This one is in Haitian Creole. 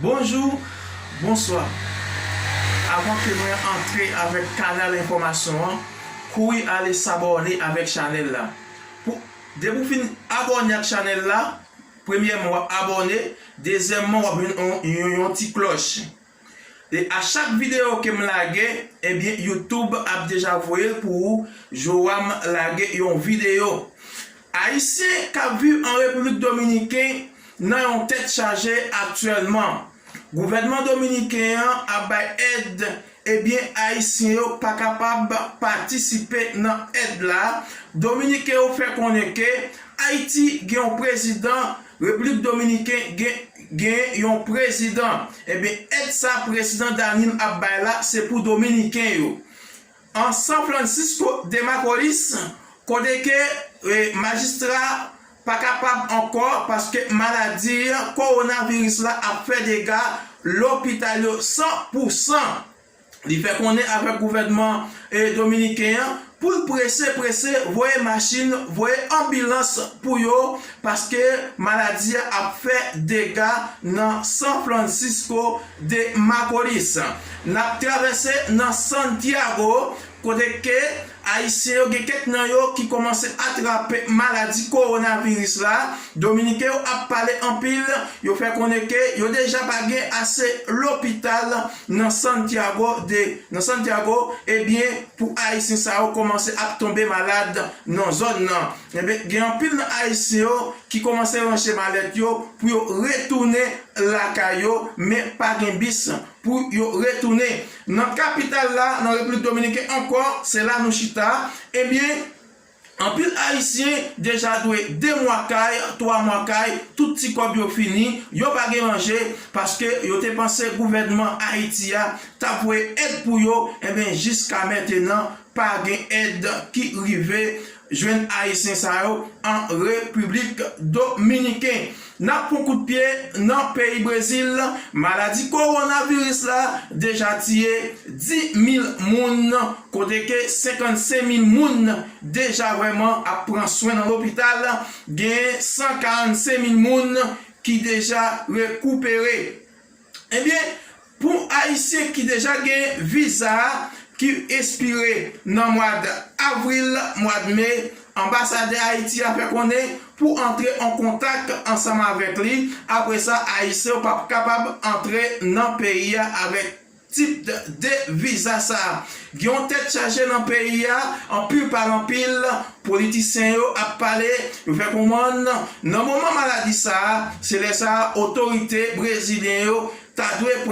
Bonjou, bonswa. Avan ke mwen antre avèk kanal enfòmasyon an, kouri ale sabòne avèk chanèl la. Pou, depi ou fin abòne ak chanèl la, premyèman wap abòne, dezyèman wap jwenn yon yon yon ti klòch. E a chak video kem lage ebyen YouTube ap deja voyel pou ou Joam lage yon video. Ayisyen kap viv an Repiblik Dominiken nan yon tèt chaje aktyèlman. Gouvènman Dominiken an ap bay èd ebyen Ayisyen yo pa kapab patisipe nan èd la, Dominiken yo fè konnen ke Ayiti gen yon prezidan Repiblik Dominiken gen genyen yon prezidan. Ebyen èd sa prezidan Danil ap bay la se pou dominiken yo. An San Francisco de Macorís kote ke majistra pa kapab ankò paske maladi kowonaviris la ap fè dega lopital yo san pou san. Li fè konnen avèk gouvènman dominiken an pou l prese prese voye machin, voye anbilans pou yo paske maladi a ap fè dega nan San Francisco de Macorís. N ap travèse nan Santiago kote ke Ayisyen yo gen kèk nan yo ki kòmanse atrape maladi kowonaviris la, Dominiken yo ap pale anpil, yo fè konnen ke yo deja pa gen ase lopital nan Santiago de nan Santiago, ebyen pou ayisyen sa yo kòmanse ap tonbe malad nan zòn nan, ebyen gen anpil nan ayisyen yo ki kòmanse ranje malèt yo pou yo retounen lakay yo men pa gen bis pou yo retounen nan kapital la nan Repiblik Dominiken ankò, se la nou chita, ebyen anpil ayisyen deja dwe 2 mwa kay, 3 mwa kay, tout ti kòb yo fini, yo pa gen manje, paske yo te panse gouvènman Ayiti a tap voye èd pou yo, ebyen jiska mentenan Pa gen èd ki rive jwenn Ayisyen sa yo an Repiblik Dominiken. N ap pran kout pye nan peyi Brezil, maladi kowonaviris la deja tiye 10 mil moun, kote ke 55 mil moun deja vrèman ap pran swen nan lopital, gen 145 mil moun ki deja rekoupere. Ebyen pou ayisyen ki deja gen viza ki espire nan mwad avril, mwad me, anbasadè Ayiti a fè konnen pou antre an kontak ansanm avèk li, apre sa ayisyen yo pap kapab antre nan peyi a avèk tip de viza sa. Gen yon tèt chaje nan peyi a, anpil pale anpil, politisyen yo ap pale, yo fè konprann nan moman maladi sa a, se lè sa a otorite brezilyen yo ta dwe pran.